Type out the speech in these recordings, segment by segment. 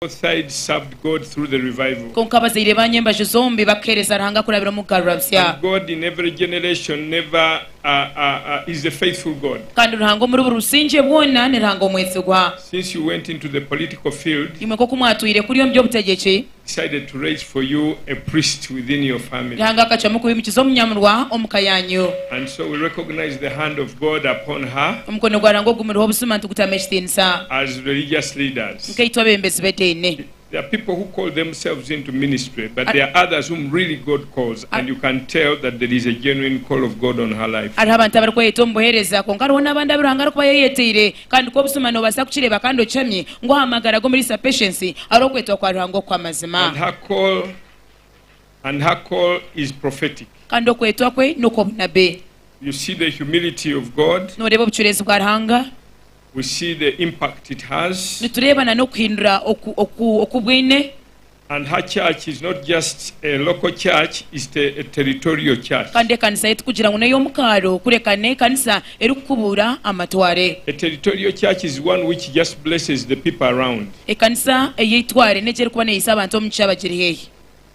Both sides served God through the revival. Kwonka abazaire ba nyembaju zombi bakaheereza Ruhanga kurabira omu kugarurabusya. And God in every generation never is a faithful God. Kandi Ruhanga omuri buri busingye bwona ni Ruhanga omwesigwa. Since you went into the political field, imwe nk'oku mwatwire kuri omu by'obutegyeki, decided to raise for you a priest within your family. Ruhanga akacwamu kubimukiza omunyamurwa omu ka yaanyu. And so we recognize the hand of God upon her. Omukono gwa Ruhanga ogumuriho buzima nitugutamu ekitiinisa. As religious leaders. nkaitwe abembezi b'ediini. Hariho abantu abarikweyeta omu buheereza, kwonka hariho n'abandi abu Ruhanga arikuba yayeyeteire, kandi ku obuzima noobaasa kukireeba kandi okihamye ngu aha magara g'Omuriisa Patience hariho okwetwa kwa Ruhanga okw'amazima. Kandi okwetwa kwe n'okw'obunabbi. Nooreeba obucureezi bwa Ruhanga? we see the impact it has. Nitureeba na n'okuhindura oku oku oku bwine. And her church is not just a local church, is the a territorial church. Kandi ekanisa ye tikugira ngu n'ey'omu kaaro kureka n'ekanisa erikukubuura amatware. A territorial church is one which just blesses the people around. Ekanisa ey'eitware n'egi erikuba neeyisa abantu omu kishaabe agiri heehi.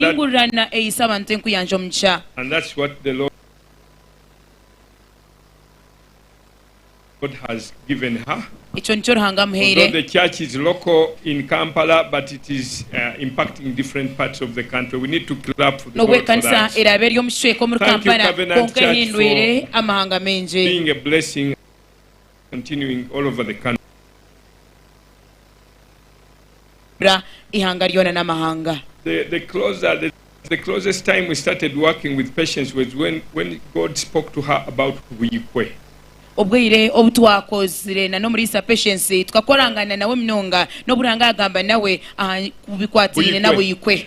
Hingurana eyise abantu enkuyanja omugisha. Ekyo nikyo Ruhanga amuhaire. N'obu ekanisa eraabe eri omu kicweka omuri Kampala, kwonka ehindwire amahanga maingi. Ra ihanga ryona n'amahanga. Obwire obu twakozire na n'omuriisa Patience tukakorangana nawe munonga n'obu Ruhanga yagamba nawe aha bikwatiine na Buikwe.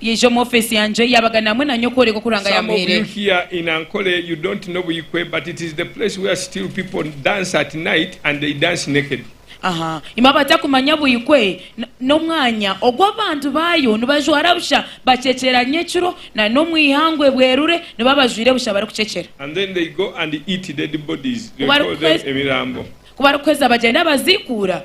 Yaija omu ofeesi yangye, yaabaganira hamwe na nyowe kworeka oku Ruhanga yaamuhaire. Aha, imwe abatakumanya Buikwe, n'omwanya ogu abantu baayo nibajwara busha bakyekyera nyekiro, na n'omu ihangwe ebwerure niba bajwaire busha barikukyekyera. Ku barikuheza, bagyenda baziikuura.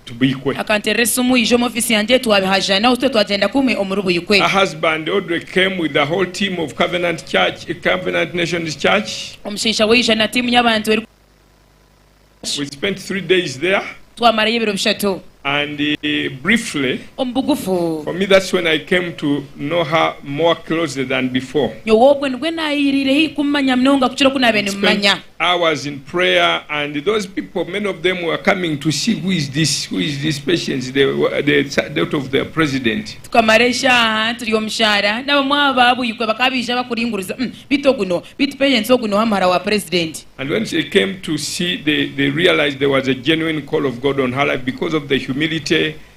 Buikwe. Akanterera esimu yaija omu ofiisi yangye twabihaja nawe itwe twagyenda kumwe omuri Buikwe. A husband Audrey came with the whole team of Covenant Church, Covenant Nations Church. Omushaija we yaija na tiimu y'abantu eri. We spent three days there. Twamarayo ebiro bishatu. And briefly, Omu bugufu. for me that's when I came to know her more closely than before. Nyowe obwo nibwo naayeyereire haihi kumumanya munonga kukira oku naabaire We spent. nimumanya. I was in prayer and those people many of them were coming to see who is this who is this patience the the daughter of the president. Tukamara eshaaha turi omu shaara n'abamwe aha baabwikwe bakaba baija bakuringuriza umm bitu ogu no bitu patience ogu noha muhara wa president. And when they came to see they they realized there was a genuine call of God on her life because of the humility,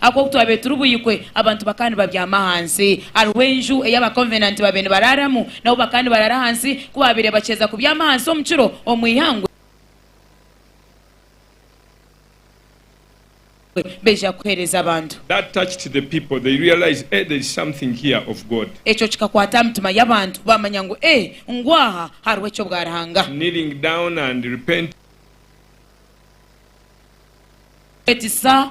Ahabw'oku twabaire turi buikwe, abantu bakaba nibabyama ahansi. Hariho enju ei Abakovenanti baabaire nibaraaramu, nabo bakaba nibaraara ahansi. Ku baabaire bakiheeza kubyama ahansi omu kiro omu ihangwe, baija kuheereza abantu. That touched the people, they realized, Eh, there's something here of God. Ekyo kikakwata aha mitima y'abantu, baamanya ngu, Eh, ngu aha hariho eky'obwaruhanga. Kneeling down and repenting. Kwetisa.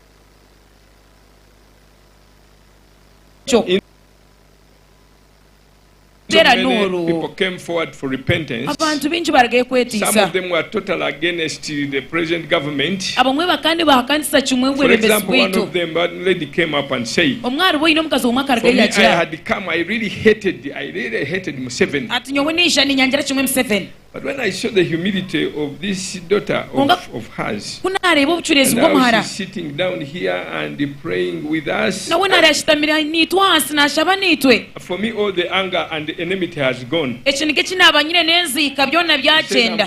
Abantu baingi barugayo kwetiisa. Abamwe bakandi bahakanisa kimwe obwebembezi bwaitu. Omwe aharibo aine omukazi womwe akarugayo yagira ati, Nyowe naija ninyangira kimwe Museveni. Kwonka ku naareeba obucureezi bw'omuhara, nawe naareeba ashutamire naitwe ahansi naashaba naitwe. Ekiniga eki naaba nyine n'enziika byona byagyenda.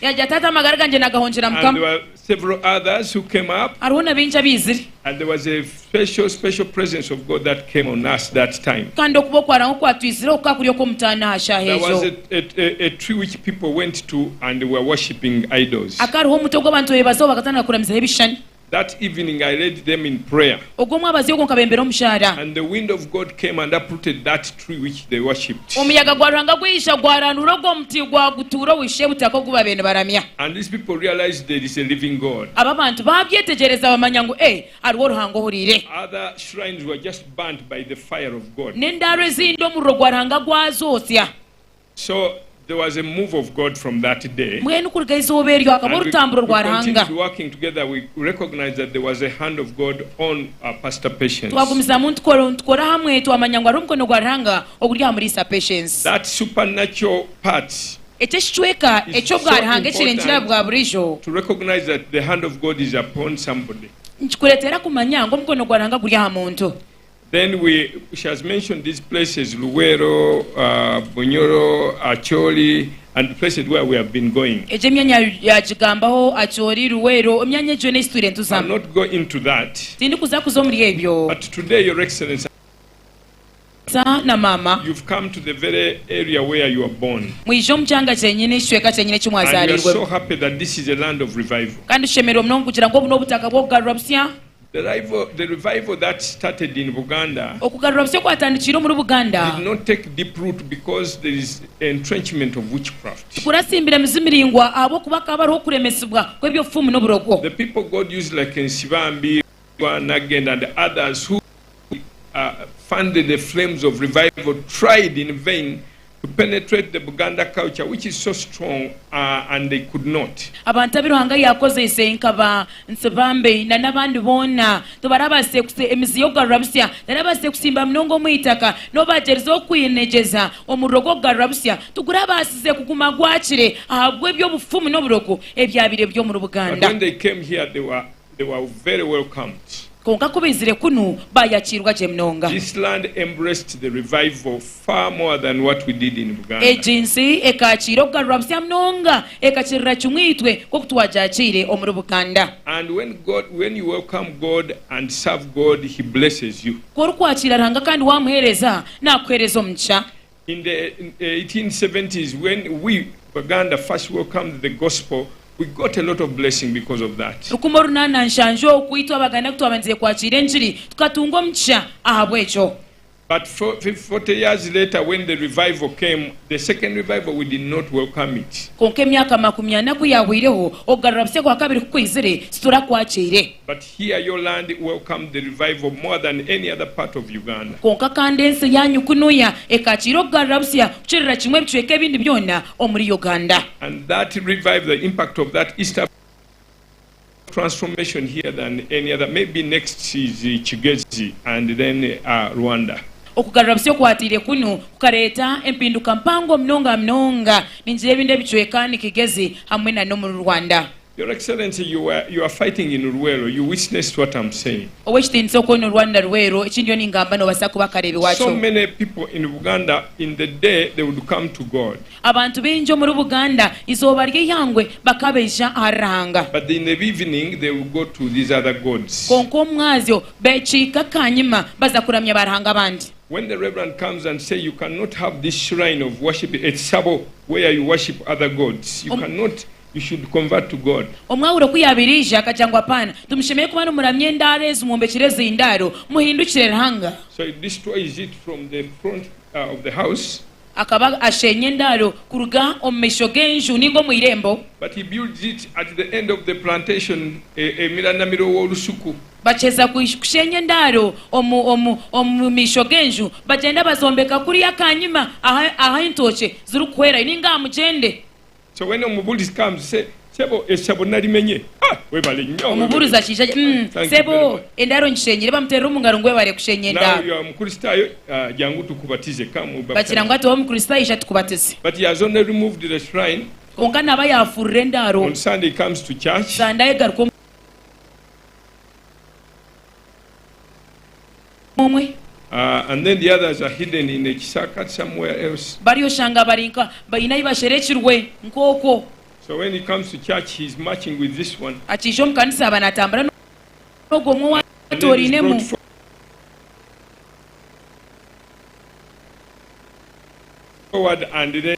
Yaagira ati, Hati amagara gangye naagahongyera Mukama. Several others who came up. Hariho na baingi abaizire. And there was a special, special presence of God that came on us that time. Kandi okuba okwa Rahwa kwatwizireho kukaba kuri okw'omutaano aha shaaha There was egyo. a, a, a, a tree which people went to and were worshipping idols. Hakaba hariho omuti ogu abantu beebazaho bakatandika kuramizaho ebishushani. That evening I led them in prayer. Ogwo omwabazi ogwo nkabembera omushaara. And the wind of God came and uprooted that tree which they worshipped. Omuyaga gwa Ruhanga gwija gwarandura ogwo muti gwagutuura owisha ebutaka ogu babaire nibaramya. And these people realized there is a living God. Abo abantu baabyetegyereza bamanya ngu ee, hariho Ruhanga ohuriire. Other shrines were just burnt by the fire of God. N'endaaro ezindi omuriro gwa Ruhanga gwazotsya. So there was a move of God from that day. Mbwenu kuruga eizooba eryo hakaba And we, orutamburo we rwa Ruhanga. continued working together. We recognized that there was a hand of God on our pastor Patience. Twagumizamu nitukora nitukora hamwe, twamanya ngu hariho omukono gwa Ruhanga oguri aha muriisa Patience. That supernatural part Ekyo ekicweka is eky'obwa so Ruhanga ekirengire aha bwa important buriijo to recognize that the hand of God is upon somebody. nikikureetera kumanya ngu omukono gwa Ruhanga guri aha muntu. Then we she has mentioned these places Luweero, Bunyoro, Acholi and the places where we have been going. Egyo emyanya yagigambaho, Acholi, Luweero, emyanya egyo yoona eyi titwire nituzamu. I'll not go into that. Tindikuza kuza omuri ebyo. But today your excellency. Tata na maama. You've come to the very area where you were born. Mwije omu kyanga kyenyini, ekicweka kyenyini eki mwazariirwemu. And we are so happy that this is a land of revival. Kandi tushemererwe munonga kugira ngu obu n'obutaka bw'okugarura busya. The revival that started in Buganda Okugarura busya okwatandikiire omuri Buganda did not take deep root because there is entrenchment of witchcraft. Tikuratsimbire mizi miraingwa ahabw'okuba hakaba hariho okuremesibwa kw'eby'obufumu n'oburogo. The people God used like Nsibambi, Rwagwa, Nagenda and others who. fund the flames of revival tried in vain to penetrate the Buganda culture which is so strong uh, and they could not. Abantu abu Ruhanga yaakozeise nka ba Nsibambi na n'abandi boona tibaraabaasize kusi emizi y'okugarura busya teraabaasize kusimba munonga omu itaka. N'obu baagyerize okwinegyeza omuriro gw'okugarura busya tiguraabaasize kuguma gwakire ahabw'eby'obufumu n'oburogo ebyabaire biri omuri But Buganda. when they came here they were They were very welcomed. Kwonka ku baizire kunu, baayakiirwa gye munonga. This land embraced the revival far more than what we did in Buganda. Egi nsi ekaakiira okugarurwa busya munonga ekakirira kimwe itwe nk'oku twagyakiire omuri Buganda. And when God, when you welcome God and serve God, He blesses you. Ku orikwakiira Ruhanga kandi waamuheereza, naakuheereza omugisha. In the eighteen seventies when we Baganda first welcomed the gospel we got a lot of blessing because of that. Rukumi orunana na nshanju oku itwe Abaganda kutwabandize kwakira engiri tukatunga omugisha ahabwekyo. But forty years later when the revival came, the second revival we did not welcome it. Kwonka emyaka makumi ana ku yahweireho okugarura busya kwa kabiri ku kwizire titurakwakire. Here your land welcome the revival more than any other part of Uganda. Kwonka kandi ensi eyaanyu kunuya ekaakiira okugarura busya kukirira kimwe ebicweka ebindi byona omuri Uganda. And that revive the impact of that East Africa transformation here than any other maybe next is Kigezi and then Rwanda. Okugarura busya okwatiire kunu kukareeta empinduka mpango munonga munonga. Ningira ebindi ebicweka ni Kigezi hamwe na n'omuri Rwanda. Your excellency you are you are fighting in Luweero you witnessed what am saying. Ow'ekitiinisa okwo ni Rwanda Luweero eki ndiyo ningamba nobaasa kuba akareebi So wakyo. many people in Buganda in the day they would come to God Abantu baingi omuri Buganda izooba ry'eihangwe bakaba baija ahari Ruhanga. but in the evening they will go to these other gods. Kwonka omu mwazyo bekiika kanyima baza kuramya ba Ruhanga abandi. When the reverend comes and say you cannot have this shrine of worship ekisabo where you worship other gods you Om- cannot You should convert to God. Omwahuro ku yaabaire aija, akagira ngu Apaana, timushemereire kuba nimuramya endaaro ezi mwombekire ezi ndaaro, muhindukire Ruhanga. So he destroys it from the front of the house. Akaba asheenya endaaro kuruga omu maisho g'enju nainga omu eirembo. But he builds it at the end of the plantation, emiranamiro w'orusuku. Bakyeza kusheenya endaaro omu, omu, omu maisho g'enju, bagyenda bazombeka kuriya kanyima aha, aha entookye zirikuhwerayo nainga aha mugyende. Omubuurizi akija ati, Umm, sebo, endaaro ngishenyire. Bamuteerera omu ngaro ngu, Webare kushenya endaaro. Bagira ngu, Hati waaba Omukristaayo, ija tukubatize. Kwonka naaba yaafuurire endaaro, Sande ayegaruka omu. omwe. And then the others are hidden in a kishaka somewhere else. Bari oshanga bari nka baine ahi basherekirwe nk'okwo. So when he comes to church he is marching with this one. Akija omu kanisa aba natambura n'ogwo omwe owa atoorainemu. Forward and then.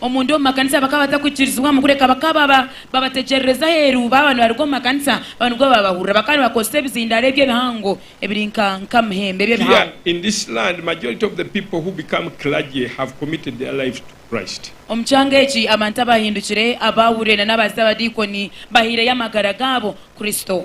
Omunda omu makanisa bakaba batakukirizibwamu kureka bakaba babategyerereza aheeru baaba nibaruga omu makanisa baaba nibwo babahurira. Bakaba nibakozesa ebizindaaro ebyo ebihango ebiri nka muhembe ebyo ebihango. Omu kyanga eki abantu abaahindukire abaahurire nana abaazita abadiikoni bahaireyo amagara gaabo Kristo.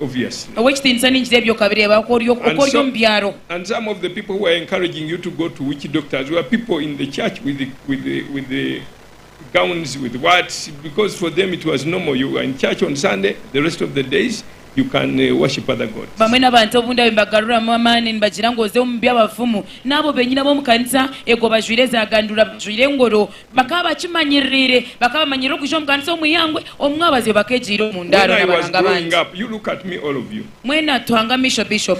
obviously Ow'ekitiinisa ningira ebi okabireeba oku ori oku ori omu byaro. And some of the people who are encouraging you to go to witch doctors were people in the church with with with gowns with whats because for them it was normal you were in church on Sunday the rest of the days you can worship other gods. Bamwe n'abantu obu ndabe mbagaruramu amaani nibagira ngu oze omu by'abafumu n'abo benyine ab'omu kanisa ego bajwaire za gandura bajwaire engoro Bakaba bakimanyiririre, bakaba bamanyirire okuja omu kanisa omu ihangwe, omu mwabazyo bakegyeire omu ndaaro n'abaranga abandi. Mwena tuhange amaisho Bishop.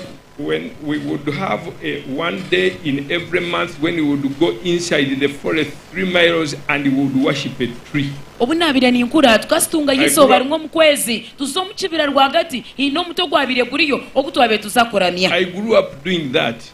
Obu naabaire ninkura, tukasitungayo eizooba rimwe omu kwezi tuza omu kibira rwagati, haine omuti ogwabaire guriyo ogu twabaire tuza kuramya.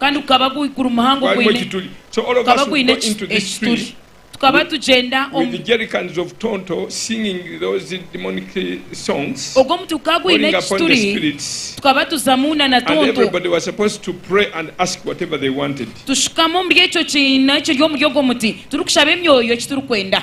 Kandi gukaba guri muhango gwine gukaba gwine ekituri. Tukaba tugyenda omu. Ogwo muti gukaba gwine ekituri tukaba tuzamu na na tonto. Tushukama omuri ekyo kiina ekiri omuri ogwo muti turikushaba emyoyo eki turikwenda.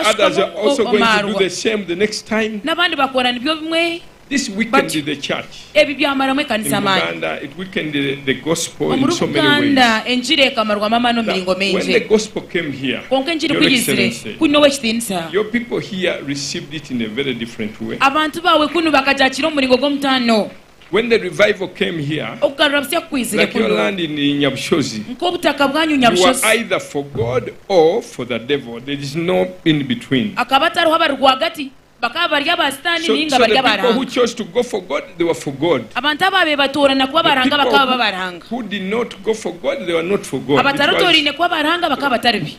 Ashukamu o, omaarwa. N'abandi bakora nibyo bimwe batyo. Ebi byamaramu ekanisa amaani. Omuri Buganda, Enjiri ekamarwamu amaani omu miringo mingi. Kwonka Enjiri ku yaizire, kunu n'ow'ekitiinisa. Abantu baawe kunu bakagyakiira omu muringo gw'omutaano. When the revival came here, Okugarura busya ku kwizire like your kunu, land in Nyabushozi, nk'obutaka bwanyu you were Nyabushozi, either for God or for the devil. There is no in between. hakaba hatariho abari rwagati, bakaba bari aba Sitaani So, nainga so bari the aba people who Ruhanga. chose to go for God, they were for God. Abantu abo abeebatoorana kuba aba The Ruhanga people bakaba baba who, aba Ruhanga. who did not go for God, they were not for God. It was, Abatarotooraine kuba aba Ruhanga bakaba batari be.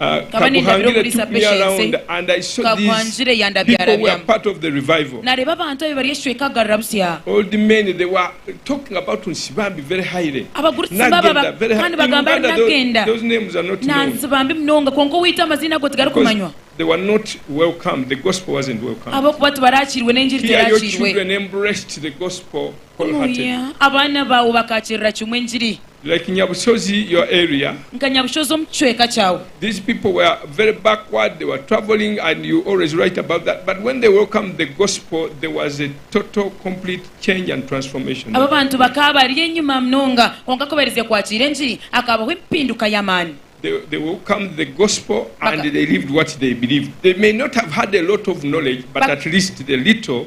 Nkaba nindabira omuri za Patience, Kaguhangire yandabyarabya. Nareeba abantu abe bari ekicweka kugarura busya. Abagurusi nibababa kandi nibagamba ngu nagenda. Nansiba mbi munonga, kwonka owaitu amaziina ago tigarikumanywa. Ahabw'okuba tibarakiirwe n'enjiri terakiirwe. Kunuya abaana baawe bakaakirira kimwe engiri. Like Nyabushozi your area. Nka Nyabushozi omu kicweka kyawe. These people were very backward they were travelling and you always write about that but when they welcomed the gospel there was a total complete change and transformation. Abo abantu bakaba bari enyima munonga kwonka ku bairize kwakiira engiri hakabaho empinduka y'amaani. They welcomed the gospel and they lived what they believed. They may not have had a lot of knowledge but at least the little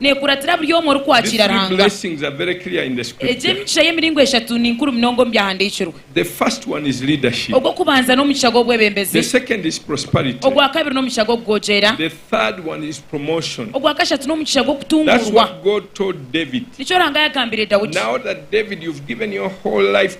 Neekuratira buri omwe orikwakiira Ruhanga. Egi emigisha y'emiringo eshatu ni nkuru munonga omu Byahandiikirwe. Ogw'okubanza n'omugisha gw'obwebembezi. Ogwa kabiri n'omugisha gw'okugoogyera. Ogwa kashatu n'omugisha gw'okutunguurwa. Nikyo Ruhanga yaagambire Daudi.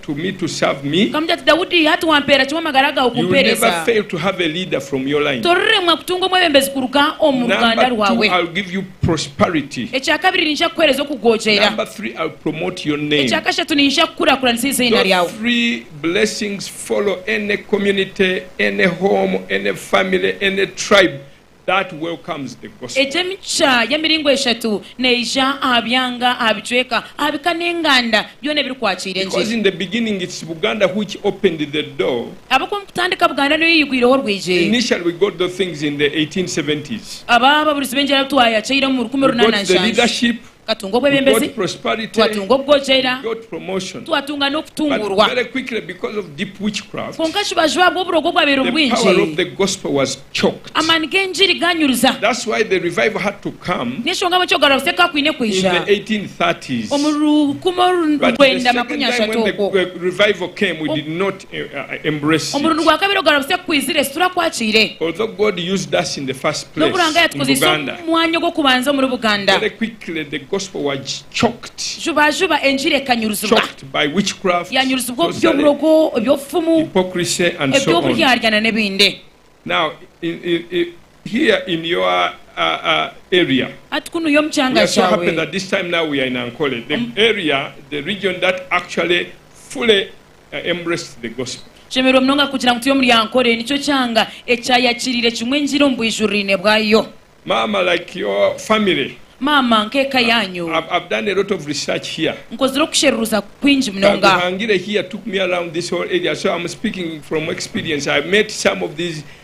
to me to serve me. Akamugambira ati, Daudi, hati wampeera ki w'amagara gaawe You will never kumpeereza? fail to have a leader from your line. Toriremwa kutunga omwebembezi kuruga omu ruganda Number two, rwawe. I'll give you prosperity. Ekya kabiri, niija kukuheereza okugookyera. Number three, I'll promote your name. Ekya kashatu, niija kukurakuranisa eiziina Those ryawe. three blessings follow any community, any home, any family, any tribe that welcomes the Gospel. Egi emicwe y'emiringo eshatu neija aha byanga, aha bicweka, aha bika n'enganda byona ebirikwakiira enjiri. Because in the beginning it's Buganda which opened the door. Ahabw'okuba omu kutandika Buganda niyo yayigwireho orwigi. Initially we got those things in the 1870s. Aba ababurizi b'enjiri abu twayakyeire omu rukumi We got the runananshanja. leadership. Twatunga obwebembezi, twatunga obwogyera, twatunga n'okutungurwa. Kwonka kibaju ahabw'oburogo obwabaire bwingi, amaani g'engiri gaanyuruza. Niyo nshonga ahabw'enki okugarura busya kukaba kwine kwija omu rukumi orwenda makumi ashatu okwo. Omurundi gwa kabiri ogarabise kukwizire, eki turakwakiire. N'obu Ruhanga yatukuziise omu mwanya ogw'okubanza omuri Buganda, juba juba enjiri ekanyuruzibwa. Yanyuruzibwa omu by'oburogo, eby'obufumu, eby'oburyarya nana ebindi. Hati kunuya omu kyanga kyawe. I embraced the gospel. Nshemererwa munonga kugira ngu turi omuri Ankole. Nikyo kyanga ekyayakiriire kimwe engiri omu bwijuriraine bwayo. Maama like your family. Maama nk'eka yaanyu. I've I've done a lot of research here. Nkozire okusheruruza kwingi munonga. Kaguhangire here took me around this whole area so I'm speaking from experience. I met some of these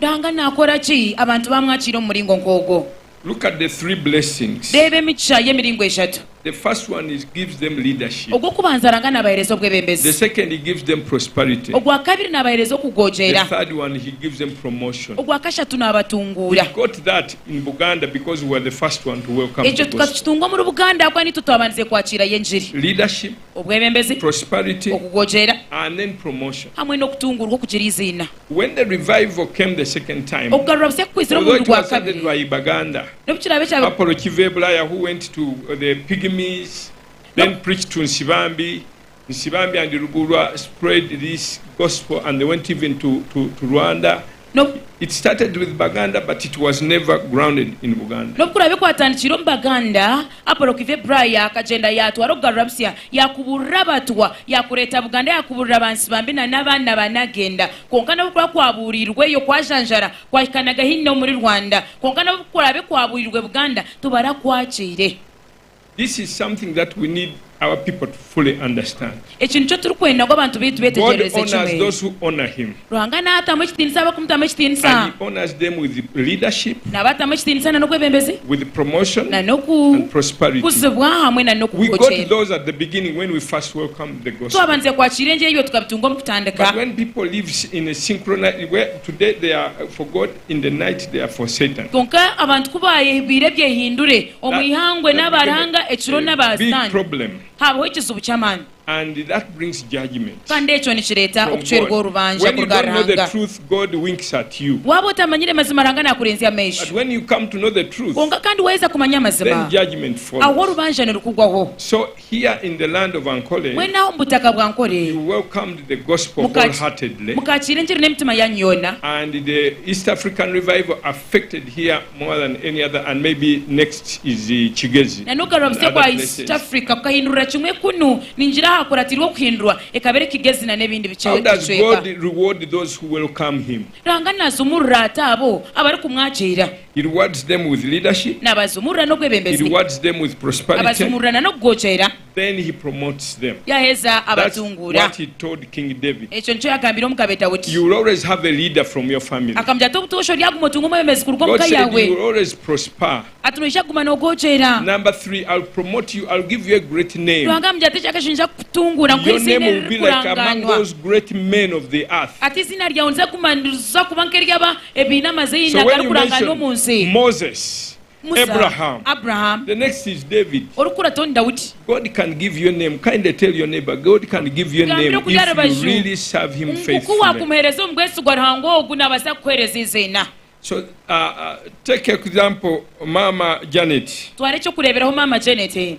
Ruhanga naakora ki abantu baamwakira omu muringo nk'ogwo? Reeba emigisha y'emiringo eshatu. Ogw'okubanza, Ruhanga naabaheereza obwebembezi. Ogwa kabiri, naabaheereza okugogyera. Ogwa kashatu, naabatunguura. Ekyo tukakitunga omuri Buganda ahabw'okuba niitwe twabandize kwakirayo engiri. obwebembezi, okugogyera, hamwe n'okutunguurwa okugira eiziina. Okugarura busya kukwizire omurundi gwa kabiri, n'obu kiraabe kya N'obu N'obukuraabe kwatandikire omu Baganda, Apollo Kive Braya akagyenda yaatwara okugarura busya, yaakuburira Abatwa, yaakureeta Buganda, yaakuburira ba Nsibambi na n'abaana ba Nagenda. Kwonka n'obukuraabe kwabuuriirweyo kwajanjara kwahikanaga haihi n'omuri Rwanda. Kwonka n'obukuraabe kwabuurirwe Buganda, tibarakwagyeire. Eki nikyo turikwenda ngu abantu baitu beetegyerereze kimwe. Ruhanga naatamu ekitiinisa abarikumuteeramu ekitiinisa, n'abo atamu ekitiinisa na n'obwebembezi, na n'okukuzibwa hamwe na n'okuhokyeerwa. Twabandize kwakiira enjeri ebyo tukabitunga omu kutandika. Kwonka abantu ku baayehubwire ebyehindure, Omu ihangwe n'abaaranga ekiro n'abaasitaani haabaho ekizibu ky'amaani, kandi ekyo nikireeta okucwerwa orubanja kuruga aha Ruhanga. Waaba otamanyire mazima Ruhanga naakureenzya amaisho, kwonka kandi waaheza kumanya amazima, aho orubanja nirukugwaho. Here in the land of Ankole, Mbwenu aha omu butaka bwa Ankole, you welcomed the gospel muka- wholeheartedly, mukakiira engiri n'emitima yanyu yoona. and the East African revival affected here more than any other, and maybe next is uh, Kigezi Na n'okugarura and busya other kwa East places. Africa kukahindurira kimwe kunu, ningira ahakuratiirwe okuhindurwa, ekaba eri Kigezi na n'ebindi bice- How does bicweka. God reward those who welcome Him? Ruhanga naazumurura ata abo abarikumwakiira? Naabazumurura n'obwebembezi, abazumurura na n'okugookyera, yaaheza abatunguura. Ekyo nikyo yaagambire omugabe Daudi. Akamugira ati, Obutoosha oryaguma otunga omwebembezi kuruga omu ka yaawe. Ati, Noija kuguma noogookyera. Ruhanga amugira ati, Ekyakashatu niija kukutunguura nkuhe eiziina eririkurangaanwa. Ati, Eiziina ryawe niza kuguma niriza kuba nk'ery'abaana ebiine amaziina agarikurangaanwa omu nsi. Musa, Abraham, orikurata onu Daudi. Gambira okuri aha rubaju ngu ku waakumuheereza omu bwesigwa Ruhanga ogu naabaasa kukuheereza eiziina. Twara eky'okureeberaho maama Janet.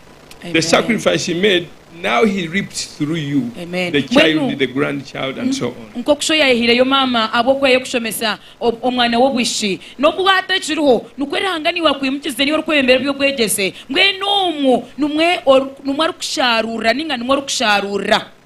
Nk'oku shoho yaayehireyo maama ahabw'okuba y'okushomesa omwana we obwishiki, n'obu hati akiriho, nikwo Ruhanga naiwe akwimukize niiwe orikwebembera eby'obwegyese, mbwenu omwo nimwo arikusharuurira ninga nimwo orikusharuurira.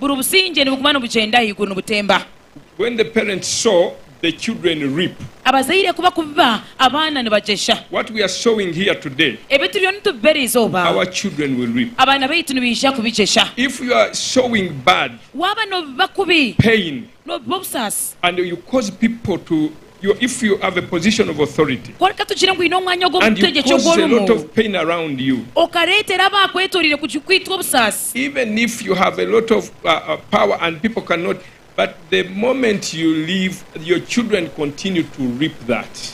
Buri busingye nibuguma nibugyenda ahaiguru nibutemba. When the parents sow, the children reap. Abazaire ku bakubiba, abaana nibagyesha. What we are sowing here today. Ebi turiyo nitubiba eri izooba. Our children will reap. Abaana baitu nibaija kubigyesha. If you are sowing bad. Waaba noobiba kubi. Pain. Noobiba obusaasi. And you cause people to. Ku reka tugire ngu oine omwanya ogwo omu butegyeki ogu orimu, okareetera abaakwetoreire kukwitwa obusaasi,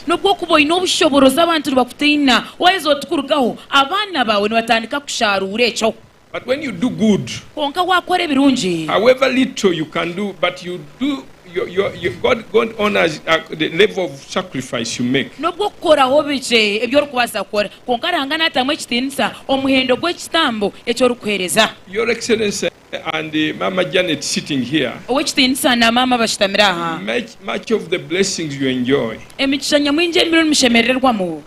n'obwokuba oine obushoboorozi abantu nibakutaina, waaheza oti kurugaho, abaana baawe nibatandika kushaaruura ekyo. But when you do good, Kwonka waakora ebirungi, however little you can do, but you do, your, your, your, God, God honors uh, the level of sacrifice you make. n'obu okukoraho bikye ebi orikubaasa kukora, kwonka Ruhanga naatamu ekitiinisa omuhendo gw'ekitambo eki orikuheereza. Your Excellency and uh, Mama Janet sitting here, Ow'ekitiinisa na Maama bashutamire aha, much, much of the blessings you enjoy, emigisha nyamwingi emirundi mushemerererwamu,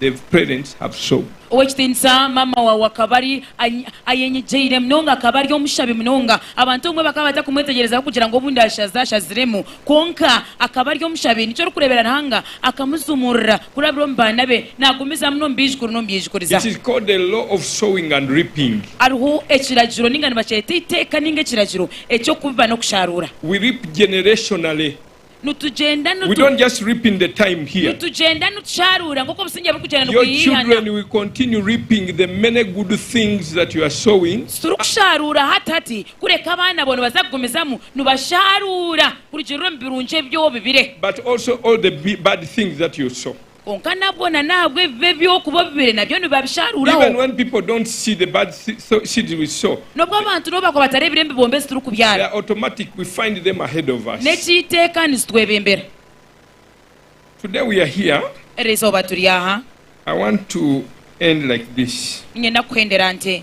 they've parents have shown. Ow'ekitiinisa maama waawe akaba ari ayenyigyeire munonga, akaba ari omushabi munonga. Abantu abamwe bakaba batakumwetegyereza kugira ngu obundi ashaza ashaziremu. Kwonka akaba ari omushabi. Nikyo orikureebera Ruhanga akamuzumurira kurabira omu baana be, naagumizamu n'omu baijukuru n'omu byaijukuriza. It is called the law of sowing and reaping. Hariho ekiragiro ninga nibakyeta eiteeka ninga ekiragiro eky'okubiba n'okusharuura. We reap generationally. nitugyenda nitusharuura nk'oku obusingye burikugyenda nibwihaana. Titurikusharuura hati hati, kureka abaana bo nibaza kugumizamu nibasharuura kurugiirira omu birungi ebi obibire. Kwonka nabwo na n'ahabwa ebibi ebi okuba obibire nabyo nibabisharuuraho. Even when people don't see the bad seeds we sow, N'obu abantu nabo bakuba batareebire emibombe ezi turikubyara, they are automatic, we find them ahead of us. n'eky'eiteeka nizitwebembera. Today we are here, Eri izooba turi aha. I want to end like this. Niinyenda kuhendera nte.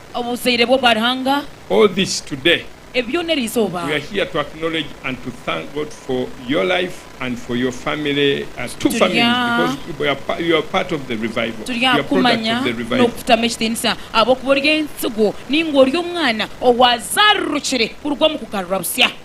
Obuzaire bwo bwa Ruhanga. All this today. Ebi byona eri izooba. We are here to acknowledge and to thank God for your life and for your family as two families because you are you are part of the revival. Turi aha kukumanya n'okukutamu ekitiinisa ahabw'okuba ori entsigo ninga ori omwana owaazarurukire kuruga omu kugarurwa busya.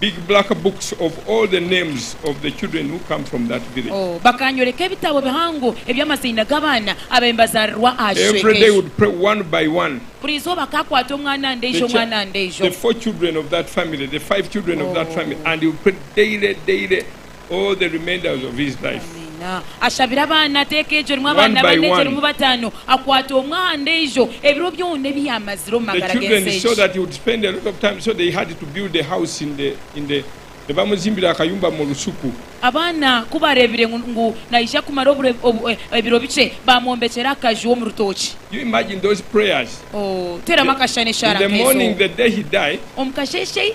Big black books of all the names of the children who come from that village. Bakanyoreka ebitabo bihango eby'amaziina g'abaana abaihi bazarirwa aha kicweka ekyo. Every day would pray one by one. Buri izooba akakwata omwana ndaijo, omwana ndaijo. The four children of that family, the five children of that family and he would pray daily, daily. all the remainders of his life. Ashabire abaana, ateeka egyo erimu One abaana by bana, egyo one. erimu bataano, akwata omwe aha ndeijo, ebiro byona ebi yaamazire omu The magara children g'ensi saw egi. that he would spend a lot of time, so they had to build a house in the, in the, nibamuzimbira akayumba mu rusuku. Abaana ku baareebire ngu, ngu naija kumara obure, obu, e, ebiro bikye, baamwombekyera akaju omu rutookye. You imagine those prayers. Oh, teeramu akashushani In eshara the morning, nk'ezo. the day he died, Omu kasheeshe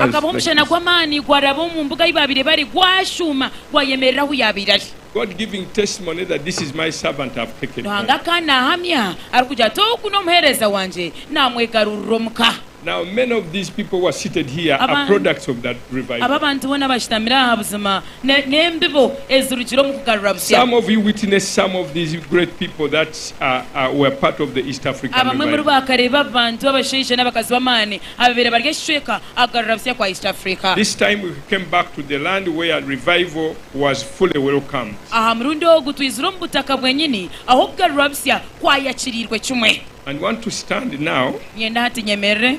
Hakabaho omushana gw'amaani gwaraba omu mbuga ei baabaire bari, gwashuuma, gwayemerera ahu yaabaire ari. Ruhanga akaba naahamya arikugira ati, Ogu n'omuheereza wangye, naamwegarurira omuka. Aba abantu boona abashutamire aha buzima. N'embibo ezirugire omu kugarura busya. Abamwe omuri bo bakareeba abantu abashaija n'abakazi b'amaani ababaire bari aha kicweka aha kugarura busya kwa East Africa. Aha murundi ogu twizire omu butaka bwenyini ahu okugarurwa busya kwayakiriirwe kimwe. Niinyenda hati nyemerere.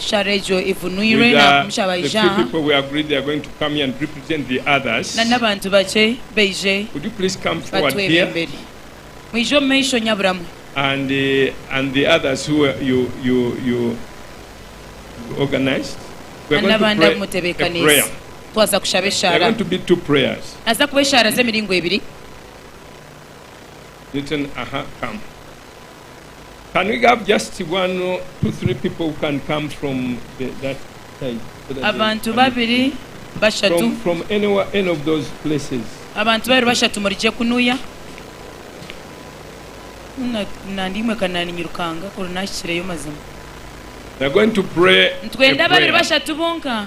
Eshara egyo evunwirwe nagumisha baija aha, nana abantu bakye baije batwebe emberi. Mwije omu maisho nyaburamwe. Nana abandi abu mutebekanise twasa kushaba eshara. Naza kuba eshara z'emiringo ebiri. Abantu babiri, bashatu, abantu babiri, bashatu omuri gye kunuya nitwenda babiri, bashatu bonka.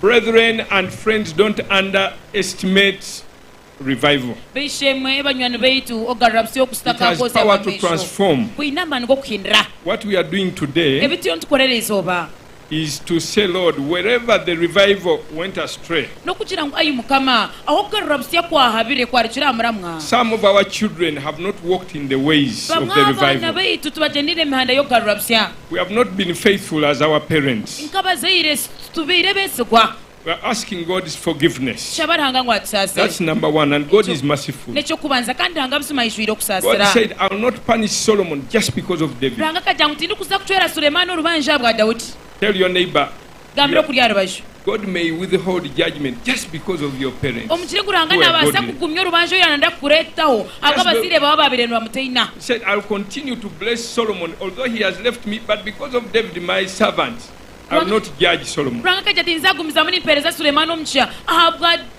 Brethren and friends don't under estimate revival. B'eishe-emwe, banywani baitu, okugarura busya oku It has kutakaakwozya power to bw'amaisho transform. kwine amaani g'okuhindura. What we are doing today Ebi turiyo nitukora eri izooba is to say, Lord, wherever the revival went astray, n'okugira ngu, Ai Mukama, ahu okugarura busya kwahabire kwarukire aha muramwa, some of our children have not walked in the ways of bamwe the aha baana revival. baitu tibagyendeire emihanda y'okugarura busya. We have not been faithful as our parents. Nk'abazaire titubaire beesigwa. We are asking God's forgiveness. Tushaba Ruhanga ngu atusaasire. That's number one and God Ekyo- is merciful. N'eky'okubanza kandi Ruhanga buzima aijwire God okusaasira. said, I will not punish Solomon just because of David. Ruhanga akagira ngu tindikuza kucwera Sulemaani orubanja ahabwa Daudi. Tell your neighbor, gambira okuri aha rubaju. God may withhold judgment just because of your parents Omugyire gu Ruhanga who were naabaasa godly. kugumya orubanja oru yaarenda kukureetaho ahabw'abazaire baawe abaabaire nibamutaina. He said, I'll continue to bless Solomon although he has left me, but because of David my servant, I will Ruhanga not judge Solomon. Ruhanga akagira ati, Nzaagumizamu nimpeereza Sulemaani omugisha ahabwa.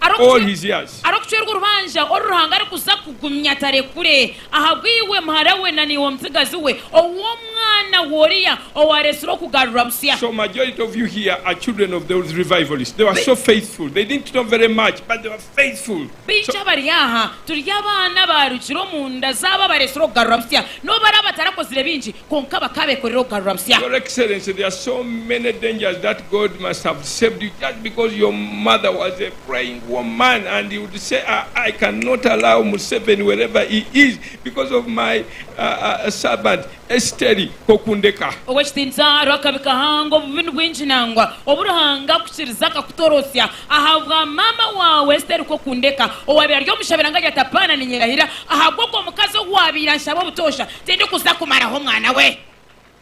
all his years. Arikucwerwa orubanja oru Ruhanga arikuza kugumya atarekure ahabw'iwe, muhara we na naiwe omutsigazi we, ou omwana we oriya owaaretsirwe kugarurwa busya. So majority of you here are children of those revivalists. They were so faithful. They didn't know very much, but they were faithful. So. Baingi abari aha turi abaana abaarugire omu nda z'abo abaretsirwe kugarurwa busya. N'obu baraaba batarakozire bingi, Kwonka bakaba bekorire okugarura busya. Your excellency there are so many dangers that God must have saved you just because your mother was a praying woman and you would say ah, I cannot allow Museveni wherever he is because of my uh, uh, servant Esteri kokundeka. Ow'ekitiinisa Rwakabi Kahanga obubi nibwingi nangwa obu Ruhanga akukiriza akakutorosya ahabwa maama waawe Esteri kokundeka owaabaire ari omushabira nka Jatapaana ninyerahira ahabw'ogwo mukazi owaabaire anshaba obutoosha Tindikuza kumaraho omwana we.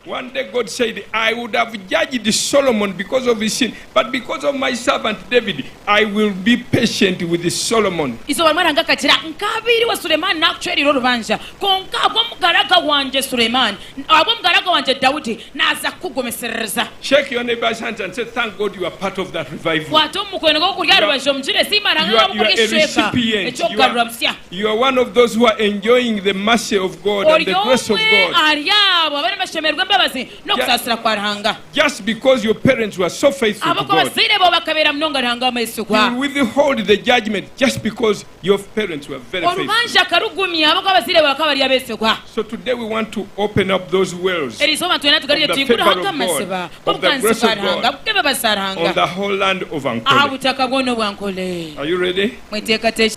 One day God said, I would have judged Solomon because of his sin, but because of my servant David, I will be patient with Solomon. Eizooba rimwe Ruhanga akagira, Nkaabaireho Sulemani naakucwereire orubanja, kwonka ahabw'omugaraga wangye Sulemani, ahabw'omugaraga wangye Daudi, naaza kukugumisiririza. Shake your neighbor's hands and say, Thank God you are part of that revival. Kwata omu mukono gwawe oguri aha rubaju omugire, Siima Ruhanga ahabw'okukoresa ekicweka eky'okugarura busya. Ori omwe ahari abo abariyo nibashemererwa embabazi n'okusaasira kwa Ruhanga. Ahabw'okuba abazaire bawe bakabeera munonga Ruhanga w'amaisugwa. Orubanja akarugumya ahabw'okuba abazaire bawe bakaba bari abeesigwa. Erizooba nitwenda tugarire tuhingure ho nk'amaziba g'obuganzi bwa Ruhanga ag'embabazi za Ruhanga aha butaka bwona obwa Ankole. Mweteekateekye.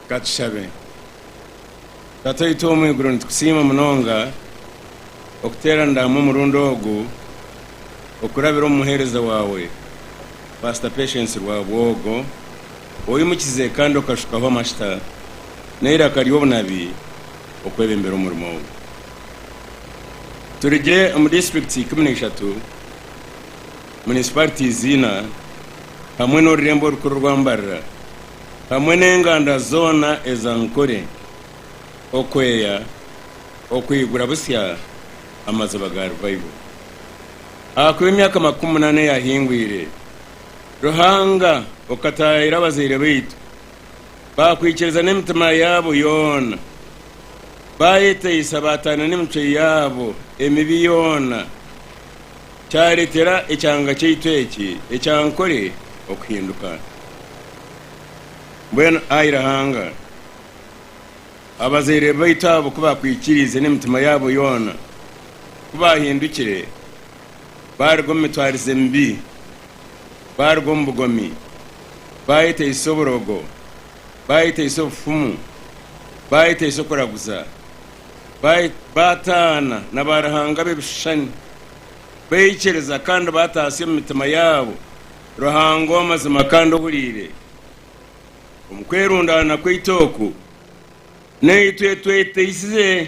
Ka tushabe. Tataitw omu iguru nitukusiima munonga okuteranira hamwe omurundi ogu okurabira omu muheereza waawe Pastor Patience Rwabwogo oimukize kandi okashukaho amashita n'eiraka ry'obunabi okwebembera omurimo ogu. Turi gye omu districts ikumi na ishatu, municipalities ina hamwe n'orurembo orukuru rwa Mbarira. hamwe n'enganda zoona eza Ankole okweeya okwigura butsya amaziba ga Revival. Ahakuba emyaka makumi munaana eyahingwiire, Ruhanga okataayaira abazaire baitu baakwikiriza n'emitima yaabo yoona, baayeteisa baataana n'emicwe yaabo emibi yoona, kyareetera ekyanga kyaitu eki ekya Ankole okuhinduka. Mbwenu ai Ruhanga, abazaire baitu abo ku baakwikiriize n'emitima yaabo yoona, ku baahindukire baaruga omu mitwarize mibi, baaruga omu bugomi, baayeteisa oburogo, baayeteisa obufumu, baayeteisa okuraguza, baataana na baaruhanga b'ebishushani, baikiiriza kandi baataasya omu mitima yaabo Ruhanga ow'amazima kandi ohuriire. Omu kwerundaana kwaitu oku, naitwe tweteisize.